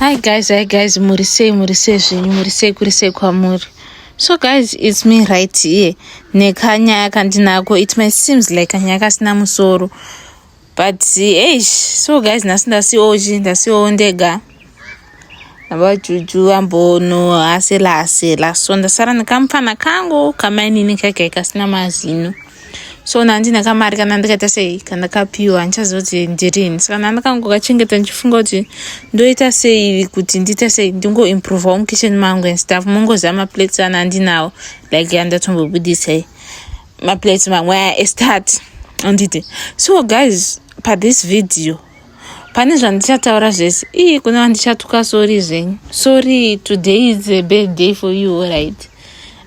Hi guys, hi guys, muri sei, muri sei zvenyu, muri sei kuri sei kwamuri. So guys, it's me right here. Nekanyaya kandinako, it may seems like kanyaya kasina musoro. But eish, so guys, nhasi ndasiochi, ndasiowo ndega. Vajuju ambono asela asela. So ndasara nekamupfana kangu kamainini kake kasina mazino. so nandina kamari kana ndikaita sei kana kapiwa handichaziva kuti ndirini saka nandakangokachengeta ndichifunga kuti ndoita sei kuti ndiita sei ndingoimprovawo mukitchen mangu and stuff mongoziva maplates ana andinawo like andatombobudisai maplates mamwe aya estart anditi so guys pathis video pane zvandichataura zvese ii kuna vandichatuka sori zvenyu sori today is a bad day for you right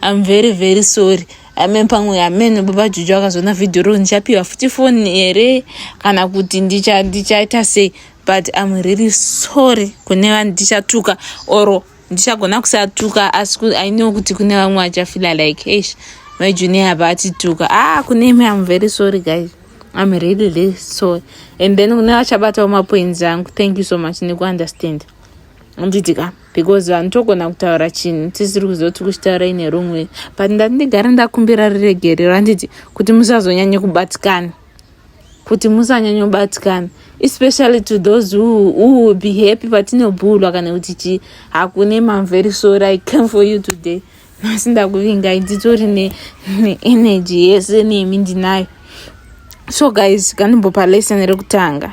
i'm very very sorry amen pamwe amen baba juju akazoona vhidhiyo ro ndichapiwa futi foni here kana kuti ndichaita sei but am really sorry kune vanhu ndichatuka or ndichagona kusatuka asi i know kuti kune vamwe vachafila like eish majuni ava atituka ah kune imi am very sorry guys am really really sorry and then kune vachabatawo mapoints angu thank you so much nekuunderstand handiti ka because vanhu togona kutaura chinhu tisiri kuzoti kuchitaura ine rumwe but ndati ndigare ndakumbira riregerero handiti kuti musazonyanye kubatikana kuti musanyanye kubatikana especially to those who, who will be happy patinobhulwa kana kuti chii hakune mamveri so i came for you today asi ndakuvingai nditori neenergy ne yese nemi ndinayo so guys ganimbopa lesson rekutanga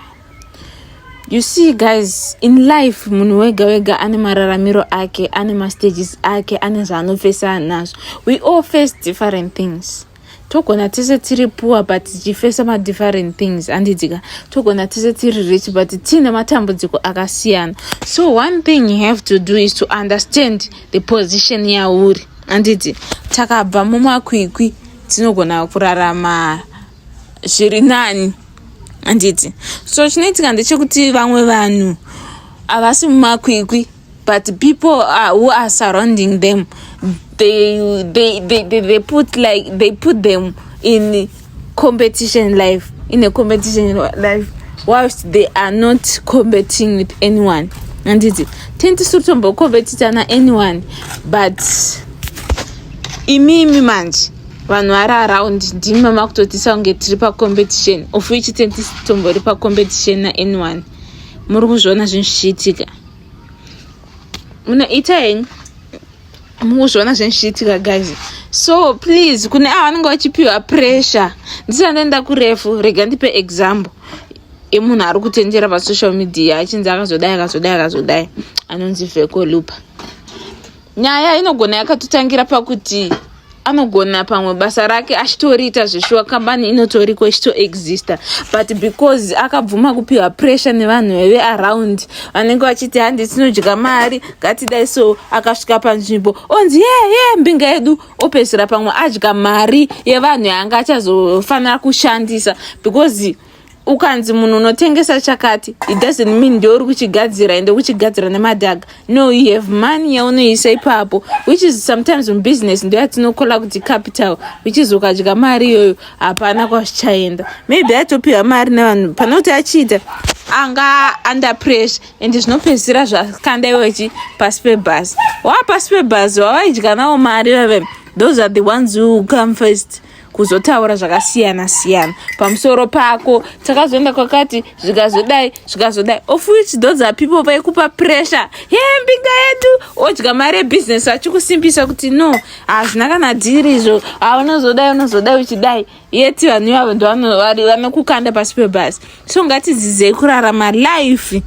you see guys in life munhu wega wega ane mararamiro ake ane mastages ake ane zvaanofesana nazvo we all face different things togona tese tiri poor but tichifesa madifferent things andidzika togona tese tiri rich but tiine matambudziko akasiyana so one thing you have to do is to understand the position yauri anditi takabva mumakwikwi tinogona kurarama zviri nani anditi so chinoitika ndechekuti vamwe vanhu havasi mumakwikwi but people are, who are surrounding them they, they, they, they, they put like they put them in competition life in a competition life whilst they are not competing with anyone handiti tini tisiri tombokompetitana anyone but imimi manje vanhu vari around ndimi mamakutotisa kunge tiri pacompetition of which tini tisi tombori pacompetition naanyone muri kuzviona zvinhu zvichiitika munoita henyu mukuzviona zvinhu zvichiitika guys so please kune ava vanenge vachipiwa pressure ndisina ndoenda kurefu rega ndipe example yemunhu ari kutenjera pasocial media achinzi akazodai akazodai akazodai anonzi vhekolupa Nyaya inogona yakatotangira pakuti anogona pamwe basa rake achitoriita zveshuwa kambani inotoriko ichitoexista but because akabvuma kupiwa pressure nevanhu veve around vanenge vachiti handi tinodya mari ngatidai so akasvika panzvimbo onzi yee yee mbinga yedu opedzisira pamwe adya mari yevanhu yaanga achazofanira kushandisa because ukanzi munhu unotengesa chakati it doesn't mean ndeuri kuchigadzira ende kuchigadzira nemadhaga no you have money yaunoisa ipapo which is sometimes mubusiness ndo yatinokola kuti capital which is ukadya mari iyoyo hapana kwazvichaenda maybe atopiwa mari nevanhu pane kuti achiita anga under pressure ende zvinopedzisira zvakanda iwe chi pasi pebhazi wava pasi pebhazi wavaidya nawo mari vave those are the ones who come first kuzotaura zvakasiyana siyana pamusoro pako takazoenda kwakati zvikazodai zvikazodai of which those are people vaikupa pressure he mbinga yedu odya mari yebusiness vachikusimbisa kuti no hazvina kana dhiri izvo aunozodai unozodai uchidai yeti vanhu ivavo ndovanokukanda pasi pebhasi so ngatidzidzei kurarama life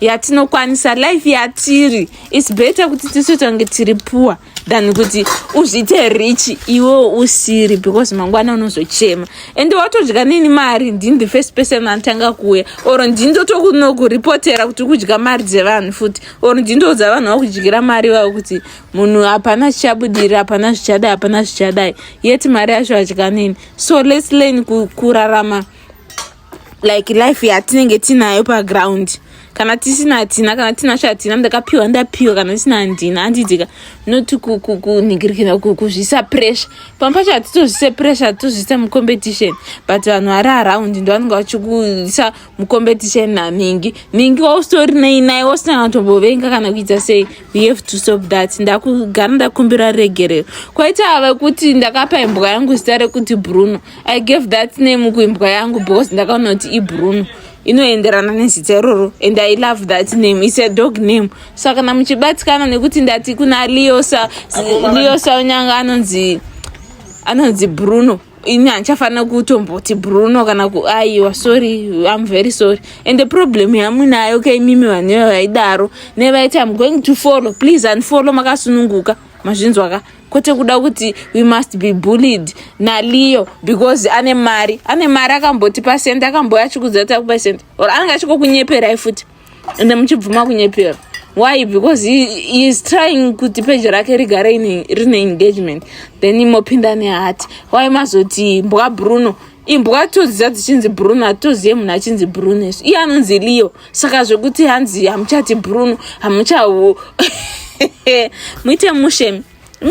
yatinokwanisa life yatiri its better kuti tisu tange tiri puwa than kuti uzviite rich iwo usiri because mangwana unozochema and watodya nini mari ndini the first person anotanga kuuya or ndini ndotokunokuripotera kuti ukudya mari dzevanhu futi or ndini ndoudza vanhu vakudyira mari vavo kuti munhu hapana zvichabudiri hapana zvichadai hapana zvichadai yet mari yacho adya nini so lets learn kurarama ku like life yatinenge tinayo paground kana tisina hatina kana tinasho hatina ndakapiwa ndapiwa kana tisina handina handiitika not kunhigirikira kuzvisa pressure pamwe pacho hatitozvise pressure hatitozvise mucompetition but vanhu vari around ndo vanenge vachikuisa mucompetition nanhingi nhingi wausitori nei naye wasina kana kutombovenga kana kuita sei we have to stop that ndakugara ndakumbira regerero kwaita vekuti ndakapa imbwa yangu zita rekuti bruno i gave that name kuimbwa yangu because ndakaona kuti ibruno inoenderana nezita iroro and i love that name its a dog name so kana muchibatikana nekuti ndati kuna leosa leosa unyanga anonzi anonzi bruno ini handichafanira kutomboti bruno kana kuaiwa sorry im very sorry and the problem yamunayo ka imimi vanhu ivo vaidaro nevaiti im going to follow please unfollow makasununguka mazvinzwa ka kwete kuda kuti we must be bullied naliyo because ane mari ane mari akamboti pasent akamboya achikudza kuti akupa sent or anenge achikokunyeperai futi ende muchibvuma kunyepera why because he, he is trying kuti peji rake rigare rine engagement then imopinda nehati why mazoti mbwa bruno imbwa toziva dzichinzi bruno hatozive munhu achinzi bruno isu iye anonzi leo saka zvekuti hanzi hamuchati bruno hamuchahu muite mushe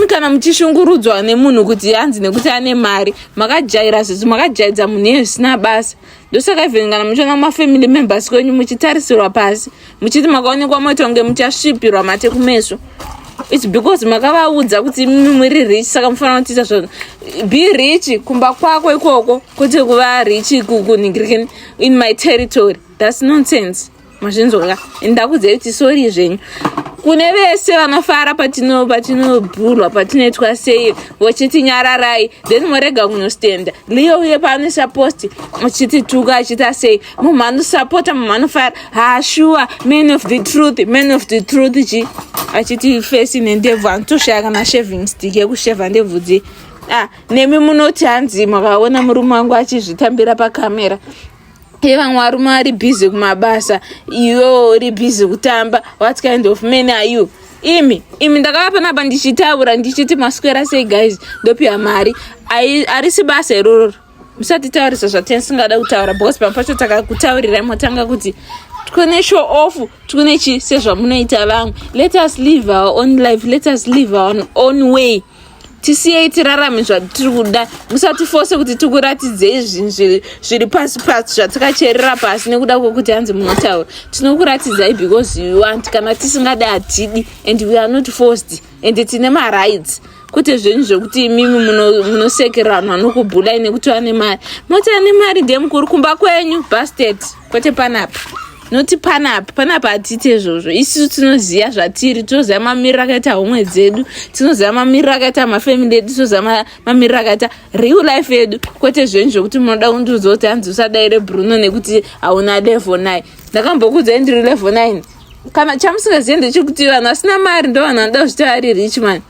kana muchishungurudzwa nemunhu kuti hanzi nekuti ane mari makajaira zvezvi makajaidza munhu iye zvisina basa ndosaka even kana muchiona mafamily members kwenyu muchitarisirwa pasi muchiti makaonekwa matonge muchasvipirwa mate kumeso its because makavaudza kuti imimi muri rich saka mufanira kutiita zva be rich kumba kwako ikoko kwete kuva rich kunhingirikeni in my territory thats nonsense mazvinzwaka ndakudzai kuti sori zvenyu kune vese vanofara patino patinobhurwa patinoitwa sei vachiti nyararai then morega kunostenda liyo uye paanoisa posti achitituka achita sei munhu anosapota munhu anofara hashuwa man of the truth man of the truth chi achiti fesi nendebvu anotoshaya kana shaving stick yekusheva ndebvu dzi ah, nemi munoti hanzi makaona murume wangu achizvitambira pakamera ye vamwe varume ari busy kumabasa iwewo uri busy kutamba what kind of man are you imi imi ndakava panapa ndichitaura ndichiti maswera sei guys ndopiwa mari arisi basa irororo musatitaurisa zvatisingada kutaura because pamwe pacho takakutaurirai motanga kuti tikune show off tikune chi sezvamunoita vamwe let us live our own life let us live our own way tisiyei tirarame zvatiri kuda musatifose kuti tikuratidzei zvinhu zviri pasi pasi zvatikacherera pasi nekuda kwekuti hanzi munotaura tinokuratidzai because you want kana tisingadi hatidi and we are not forced and tine marights kwete zvenyu zvekuti imimi munosekerera vanhu vanokubhulai nekuti vane mari moti ane mari ndiye mukuru kumba kwenyu bastet kwete panapa noti panapa panapa hatiite izvozvo isisu tinoziva zvatiri tinoziva mamiriro akaita homwe dzedu tinoziva mamiriro akaita mafamily edu tinoziva mamiriro akaita real life yedu kwete zvenyu zvekuti munoda kundiudza kuti hanzi usadaire bruno nekuti hauna level nine ndakambokudzai ndiri level nine kana chamusingazive ndechekuti vanhu vasina mari ndo vanhu vanoda kuzvita vari rich man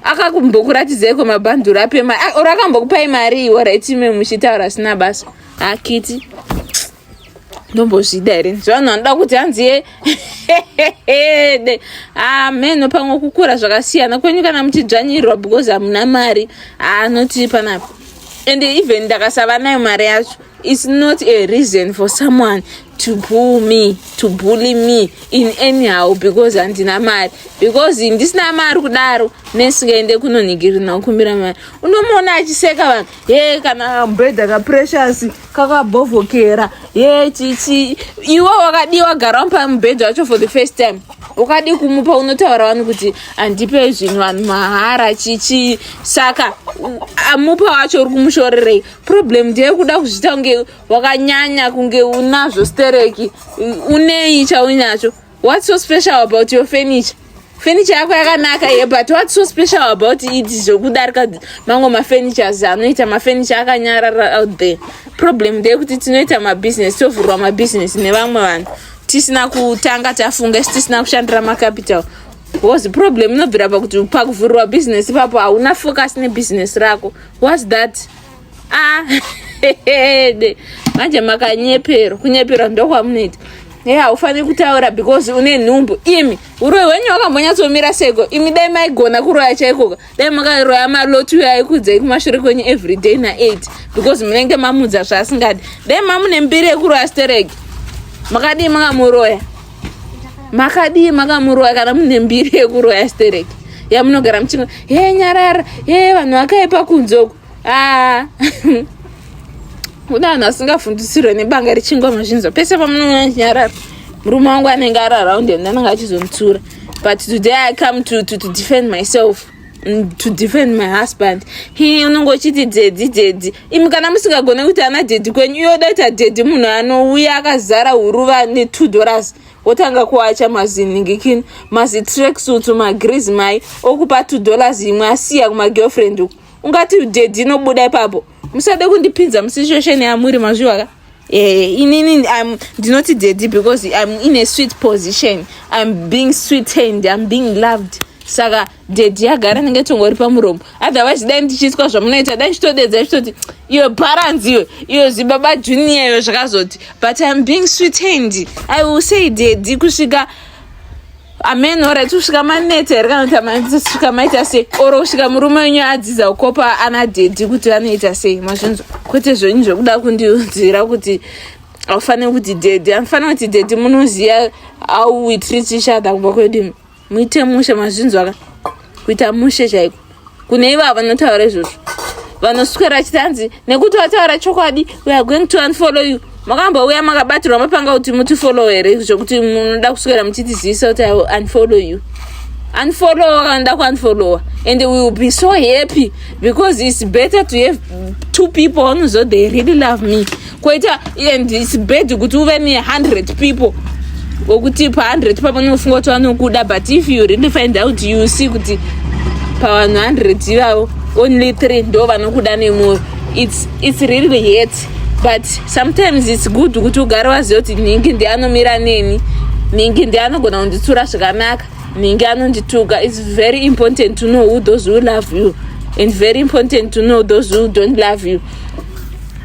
akakumbokuratidzeko mabhanduru ape mari or akambokupai mari iwo right ime muchitaura asina basa akiti ndombozvida here zvavanhu vanoda kuti hanzi ye ameno ah, pamwe kukura zvakasiyana kwenyu kana muchidzvanyirwa because hamuna mari anoti ah, panapa and even ndakasava nayo mari yacho its not a reason for someone to bull me to bully me in anyhow because handina mari because ndisina mari kudaro nesingaende kunonhigirina kukumbira mari unomuona achiseka vanhu ye kana mbedha kaprecious kakabhovhokera ye chichi iwe wakadii wagara mupa mubhedha wacho for the first time ukadii kumupa unotaura vanhu kuti handipe zvinhu vanhu mahara chichi saka amupa wacho uri kumushorerei problem ndeyekuda kuzviita kunge wakanyanya kunge unazvo stereki unei chauinacho what's so special about your furniture furniture yako yakanaka ye but what's so special about it zvokudarika mamwe mafurnitures anoita mafurniture akanyarara out there problem ndeyekuti tinoita mabusiness tovhurwa mabusiness nevamwe vanhu tisina kutanga tafunga isi tisina kushandira macapital was problem inobvira pakuti pakuvhurwa business ipapo hauna focus nebusiness rako whats that Ah, manje makanyeperwa kunyeperwa ndokwamunoita hey, haufaniri kutaura because une nhumbu imi uroyi hwenyu wakambonyatsomira seko imi dai maigona kuroya chaikoka dai makaroya maloti uyo aikudzai kumashure kwenyu everyday na8 because munenge mamudza zvaasingadi dai mamune mbiri yekuroya stereki makadii makamuroya makadii makamuroya kana mune mbiri yekuroya stereki yamunogara muchingo he nyarara he vanhu vakaipa kunzoku ah. kuda vanhu vasingafundisirwe nebanga rechingwa mazvinzwa pese pamunoona chinyarara murume wangu anenge ari around and anenge achizomutsura but today i come to, to, to defend myself mm, to defend my husband he unenge uchiti dzedzi dzedzi imi kana musingagone kuti ana dhedhi kwenyu iyo oda kuita dhedhi munhu anouya akazara huruva netwo dollars wotanga kuacha maziningikini mazitracksuit magriz mai okupa two dollars imwe asiya kumagirlfriend uku ungati dedi inobuda ipapo musade kundipinza musituation yamuri mazviwa ka eh, inini im ndinoti dedi because im in a sweet position im being sweetened im being loved saka dedi yagara ndinge tongori pamuromo otherwise dai ndichiitwa zvamunoita dai ndichitodedza ichitoti iyo baranzi iyo iyo zibaba junior iyo zvakazoti but im being sweetened i will say dedi kusvika amen ora kusvika maneta here kana kuti kusvika maita sei oro kusvika murume wenyu adzidza kukopa ana dhedhi kuti vanoita sei mazvinzwa kwete zvenyu zvekuda kundiudzira kuti aufaniri kuti dhedhi anofanira kuti dhedhi munoziva how we treat each other kubva kwedini muite mushe mazvinzwa ka kuita mushe chaiko kune ivavo vanotaura izvozvo vanoswera achiti hanzi nekuti wataura chokwadi we are going to unfollow you makambouya makabatirwa mapanga kuti mutifollow here zvekuti munoda kuswera muchitizivisa kuti unfollow you unfollowa kana nda kuunfollowa and we will be so happy because it's better to have two people who know they really love me koita and its bad kuti uve ne 100 people wekuti pa 100 papo unofunga kuti vanokuda but if you really find out you see kuti pavanhu 100 ivavo only 3 ndo vanokuda nemwoyo its, its really hate but sometimes its good kuti ugare waziva kuti nhingi ndi anomira neni nhingi ndi anogona kunditsura zvakanaka nhingi anondituka its very important to know who those who love you and very important to know those who don't love you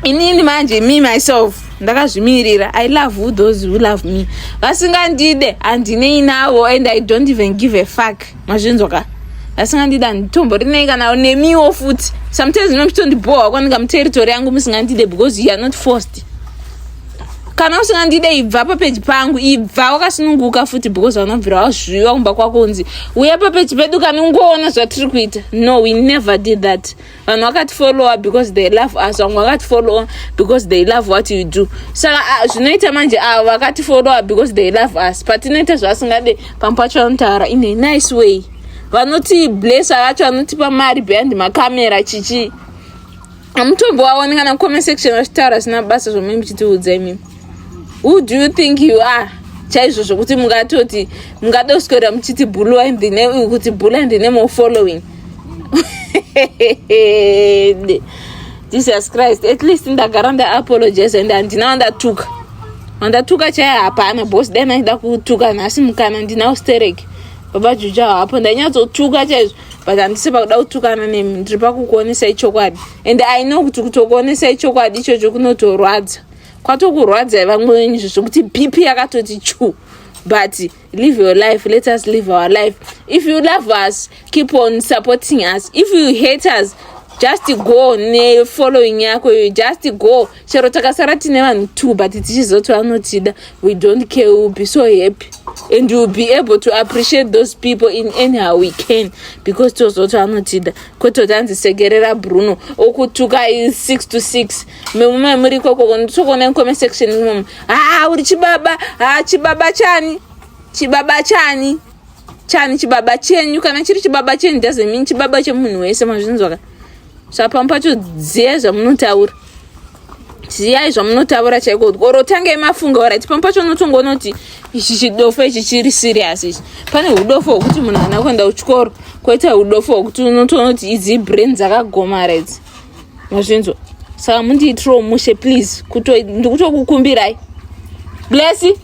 inini manje me myself ndakazvimirira i love who those who love me vasingandide handinei navo and i don't even give a fuck mazvinzwa ka vasingandide handitomborinei kana nemiwo futi sometimes ino mchitondibhohwa kwaninga muterritori yangu musingandide because you are not forced kana usingandide ibva papeji pangu ibva wakasununguka futi because vanobvira wazviwa kumba kwako unzi uye papeji pedu kana ungoona zvatiri kuita no we never did that vanhu vakatifollowa because they love us vamwe vakatifollowa because they love what you do saka ah, zvinoita manje avo vakatifollowa because they love us patinoita zvavasingade pamwe pacho vanotaura in a nice way vanoti blessa vacho vanotipa mari behind macamera chichi amutombo waone kana comment section vachitaura zvina basa zvomuimbi chitiudza imimi who do you think you are chaizvo zvokuti mungatoti mungada kuswera muchiti bulu in the name kuti bulu in the name of following jesus christ at least ndagara ndaapologize and handina wandatuka wandatuka chaiye hapana bos dai naida kutuka nhasi mukana ndinawo sterek baba juju awo hapo ndainyatsotuka chaizvo but handisi pakuda kutukana nemi ndiri pakukuonesai chokwadi and i know kuti kutokuonesai chokwadi ichocho kunotorwadza kwatokurwadzai vamwe venyu izvo zvekuti bp yakatoti chu but live your life let us live our life if you love us keep on supporting us if you hate us just go nefollowing yako iyoyo just go chero takasara tine vanhu two but tichizoti vanotida we don't care will be so happy and will be able to appreciate those people in anyhow we can because tozoti vanotida kwete kuti anzi sekerera bruno okutukai six to six mumwe muri ikoko nditokuona comment section mum haa uri chibaba haa chibaba chani chibaba chani chani chibaba chenyu kana chiri chibaba chenyu doesn't mean chibaba chemunhu wese mazvinzwaka zvapamwe pacho ziyai zvamunotaura ziyai zvamunotaura chaiko kuti or tangei mafunga orit pamwe pacho unotonga unoti ichi chidofo ichi chiri serious ichi pane udofo hwekuti munhu ana kuenda kuchikoro koita udofo hwekuti unotoona kuti idzi brain dzakagomara idzi mazvinzwa saka mundiitiro mushe please ndikutokukumbirai blesi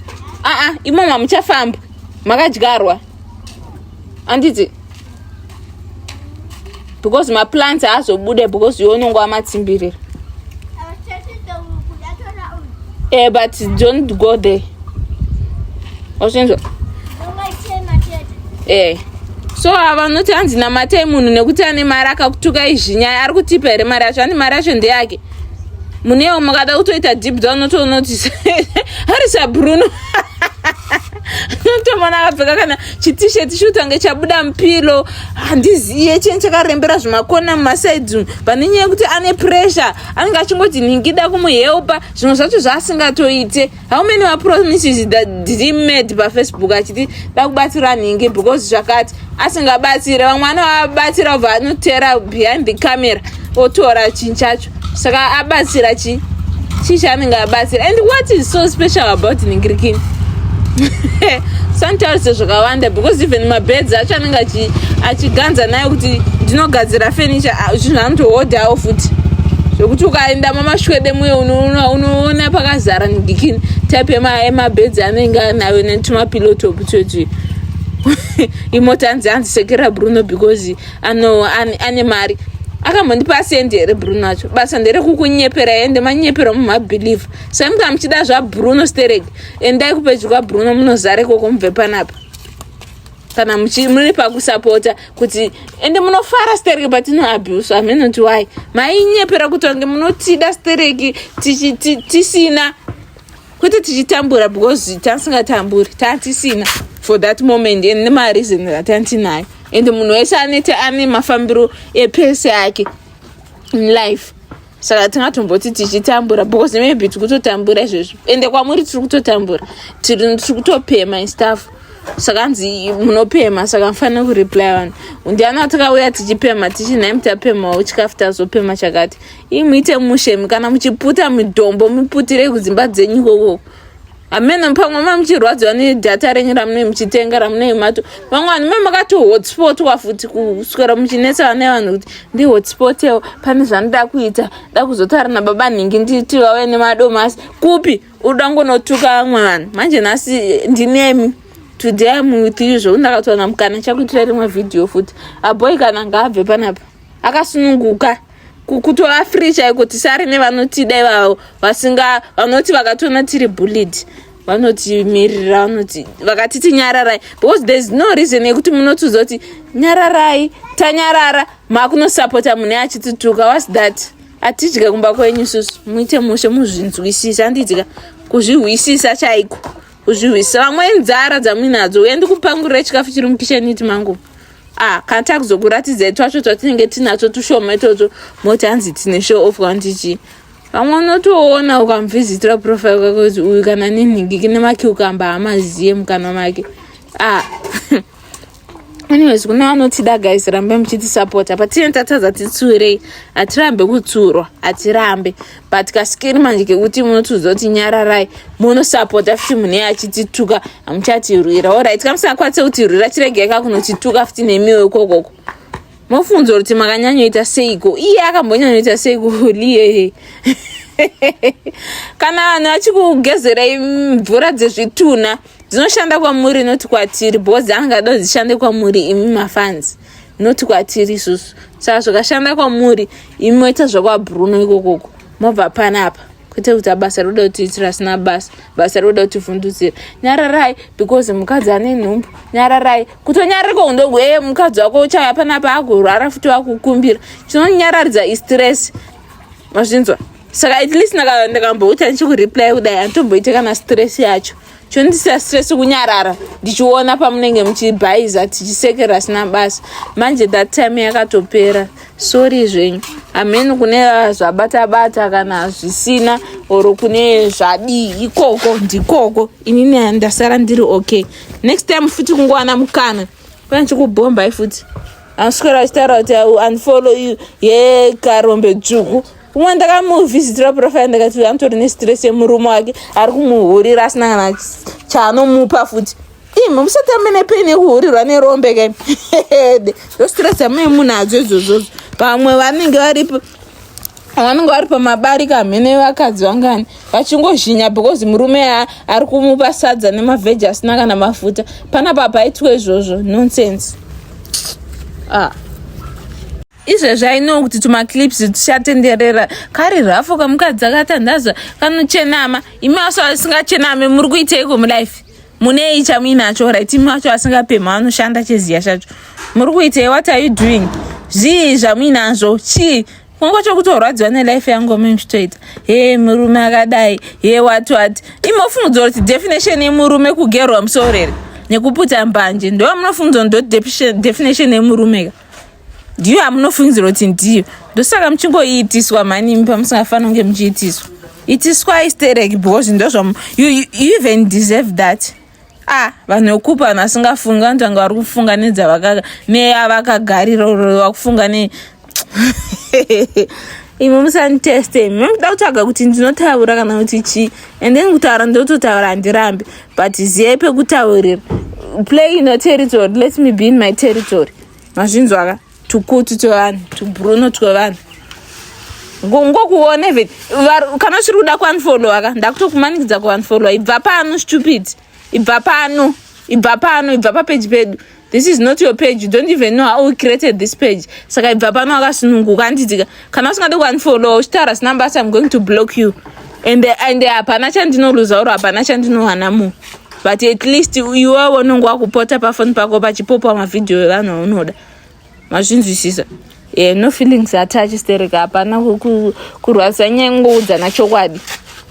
aa ah, imo mamuchafamba makadyarwa anditi because maplants aazobude because iwe unonge wamatsimbirira e eh, but don't go there wazvinzwa eh so avanoti hanzi namatai munhu nekuti ane mari akakutuka izvi nyaya ari kutipa here mari yacho ane mari yacho ndeyake munewo mukada kutoita deep down notoonotisa harisa bruno notomona akapfeka kana chitisheti chiutange chabuda mupilo handiziye chini chakarembera zvimakona mumasaidi umu pane nyaya yekuti ane pressure anenge achingoti nhingida kumuhelpa zvimwe zvacho zvaasingatoite how many mapromises that he made pafacebook achiti dakubatsira nhingi because zvakati asingabatsire vamwe anovabatsira obva anotera behind the camera otora chinhu chacho saka abatsira chi chii chaanenge abatsira and what is so special about nhingirikini santarise zvakawanda because even mabeds acho anenge achiganza nayo kuti ndinogadzira furniture ah, zvinhu anotohodhawo futi zvekuti ukaenda mamashwede muye unoona pakazara ndigikini type yemabeds anenge anayo netumapilotop twetwi imota anzi anzi sekera bruno because ano ane mari akamhondipa asendi here bruno acho basa nderekukunyepera ende manyepera mumabelieve saimuka muchida zvabruno sterek endai kupedyo kwabruno munozare koko mubve panapa kana muri pakusapota kuti ende munofara stereki patinoabhuswa hameno kuti wai mainyepera kuti wange munotida stereki tisina kwete tichitambura because tasingatamburi tatisina for that moment and nemareason atantinayo and munhu wese anete ane mafambiro epese ake in life saka tingatomboti tichitambura because maybe tiri kutotambura izvezvo ende kwamuri tiri kutotambura tiri kutopema istaff saka hanzi munopema saka mufanira kureply vanhu ndiani atakauya tichipema tichi nhai mutapemawo chikafu tazopema chakati ii muite mushe kana muchiputa midombo muputire kudzimba dzenyu ikokoko hameno pamwe mamuchirwadziwa nedhata renyu ramunei muchitenga ramunei mato vamwe vanhu me makati hotspotwa futi kuswera muchinetsa vane vanhu kuti ndi hotspotewo pane zvanoda kuita da kuzotaura nababa nhingi nditi vave nemadomasi kupi uda ngonotuka vamwe vanhu manje nhasi ndinemi today am with you zvokuti ndakatowana mukana chakuitira rimwe vhidhiyo futi aboi kana ngaabve panapa akasununguka kutova free chaiko tisari nevanotida ivavo vasinga vanoti vakatoona tiri bullied vanotimirira vanoti vakatiti nyararai because thereis no reason yekuti munotiudza kuti nyararai tanyarara makunosapota mune achitituka was that atidya kumba kwenyu isusu muite mushe muzvinzwisisa handidya kuzvihwisisa chaiko kuzvihwisisa vamwe nzara dzamuinadzo uye ndikupangurira chikafu chiri mukisheni iti manguva ah kana takuzokuratidzai twacho twatinenge tinatwo tushoma itotwo moti hanzi tine show off kwandichi vamwe unotoona ukamuvhizitira profile kwake kuti uyu kana nenhingiki nemakiukamba hamaziye mukanwa make ah anyways kune vanotida guys rambe muchitisapota patinenge tatadza titsuurei hatirambe kutsuurwa hatirambe but kasikiri manje kekuti munotiudza kuti nyararai munosapota futi mune achitituka hamuchatirwira orit kamusakwanise kutirwira chiregei ka kunotituka futi nemiwo ikokoko mofunza kuti makanyanyoita seiko iye akambonyanyoita seiko liye kana vanhu vachikugezerai mvura dzezvitunha dzinoshanda kwamuri noti kwatiri bhozi angada dzishande kwamuri imi mafanzi not kwatiri isusu saka zvakashanda kwamuri imi moita zvakwabruno ikokoko mobva panapa kwete kuti abasa roda kuti itira asina basa basa roda kuti vhundutsira nyararai because mukadzi ane nhumbu nyararai kutonyararika undogu ee mukadzi wako uchaya panapa agorwara futi wakukumbira chinonyararidza istress mazvinzwa saka at least ndakambouta ndichikureply kudai anditomboite kana stress yacho chondisiya stress kunyarara ndichiona pamunenge muchibhaiza tichisekera asina basa manje that time yakatopera sori zvenyu hamheni kune zvabata bata kana zvisina or kune zvadii ikoko ndikoko inini ndasara ndiri okay next time futi kungowana mukana pane chikubhombai futi anoswera achitaura kuti unfollow you ye karombe dzvuku umwe ndakamuvisitira profile ndakati uyu anotori nestress yemurume wake ari kumuhurira asina kana chaanomupa futi imi musati amene peni yekuhurirwa nerombe kai hede ndostress amene munhu adzo idzozvodzo pamwe vanenge varipo vanenge vari pamabari kamhene vakadzi vangani vachingozhinya because murume yaa ari kumupa sadza nemavheji asina kana mafuta panapa paitwe izvozvo nonsense ah. izvezvi ainowo kuti tumaclips tuchatenderera kari rafo kamukadzi akatandazva kanochenama imi aso asingachename muri kuiteiko mulife munei chamuinacho right imi wacho asingapemha anoshanda cheziya chacho muri kuitei what are you doing zvii zvamuinazvo chii kungo chokutorwadziwa nelife yangu mimchitoita he murume akadai he wati wati imofungudzo kuti definition yemurume kugerwa musorere nekuputa mbanje ndovamunofungudzo ndo definition yemurume ka ndiyo amunofungidzira kuti ndiyo ndosaka muchingoiitiswa mhani imi pamusingafanira kunge muchiitiswa itiswai sterek because ndozvam you, you, you even deserve that ah vanhu vekupa vanhu vasingafungi vanotanga vari kufunga nedzavaka neavakagarira urowa kufunga ne imi musanditeste imi muda kutaga kuti ndinotaura kana kuti chii and then kutaura ndototaura handirambi but ziyai pekutaurira play in your territory let me be in my territory mazvinzwaka tukutu twevanhu tubruno twevanhu ngokuona even kana usiri kuda kuunfollowa ka ndakutokumanikidza kuunfollowa ibva pano stupid ibva pano ibva pano ibva papeji pedu this is not your page you don't even know how we created this page saka ibva pano akasununguka anditika kana usingade kuunfollow uchitaura zina basa im going to block you and and hapana chandinoluza oro hapana chandinowana mu but at least iwe unonge wakupota pafoni pako pachipopwa mavhidhiyo evanhu aunoda mazvinzwisisa yeah, no feelings attach stereka hapana kurwadzisa nyaya kungoudzana chokwadi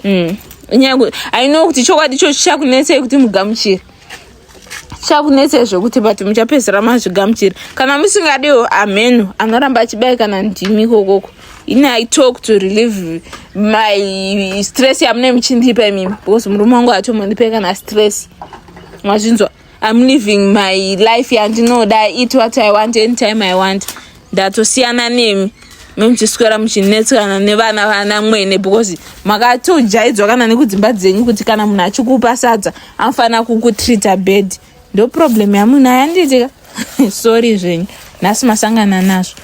mm. nyaya i know kuti chokwadi cho chichakunetsei kuti mugamuchire chakunetsei zvekuti but muchapedzisira mazvigamuchira kana musingadiwo amhenu anoramba achibayikana ndimi ikokoko ini i talk to relieve my stress yamune muchindipa imimi because murume wangu atomondipai kana stress mazvinzwa im living my life yandinoda it what i want anytime i want ndatosiyana nemi memuchiswera muchinetsana nevana vana mwene because makatojaidzwa kana nekudzimba dzenyu kuti kana munhu achikupa sadza anofanira kukutreata bed ndo problem yamunhu ayandiitika sorry zvenyu nhasi masangana nazvo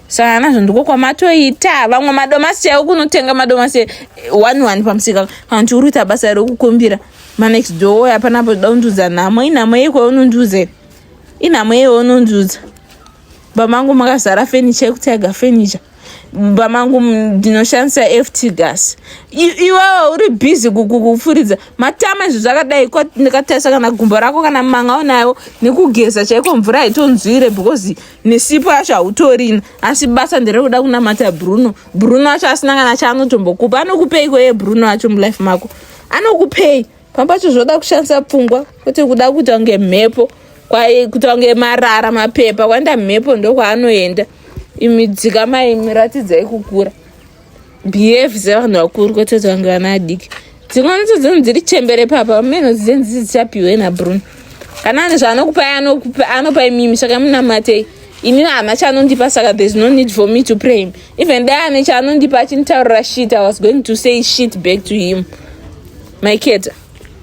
sangana nazvo ndiko kwamatoita vamwe madomasi chaiwo kunotenga madomasi eh, one one pamusika kana kuti uri kuita basa rekukumbira manext door hapana poda kundiudza nhamo inhamo yeiko unondiudza inhamo yeiwo unondiudza Bamangu makazara furniture yekutaiga furniture bamangu ndinoshandisa ft gas iwewe uri busy kufuridza matama izvo zvakadai ndikatarisa kana gumbo rako kana manga unayo nekugeza chaiko mvura haitonzwire because nesipo yacho hautorina asi basa nderekuda kunamata bruno bruno acho asina kana chaanotombokupa anokupeiko ye bruno acho mulife mako anokupei Papacho zvoda kushandisa pfungwa kuti kuda kuita kunge mhepo kuita kunge marara mapepa kwaenda mhepo ndokwaanoenda imi dzika mai miratidzai kukura behave sevanhu vakuru kwete kuti vange vana adiki dzimwe ndidzo dzinhu dziri chembere papa meno dzidze ndidzo dzichapiwe nabrun kana ane zvaanokupai anokupai anopai mimi saka munamatei ini hama chanondipa saka there's no need for me to pray him even dai ane chaanondipa achinitaurira shit i was going to say shit back to him maiketa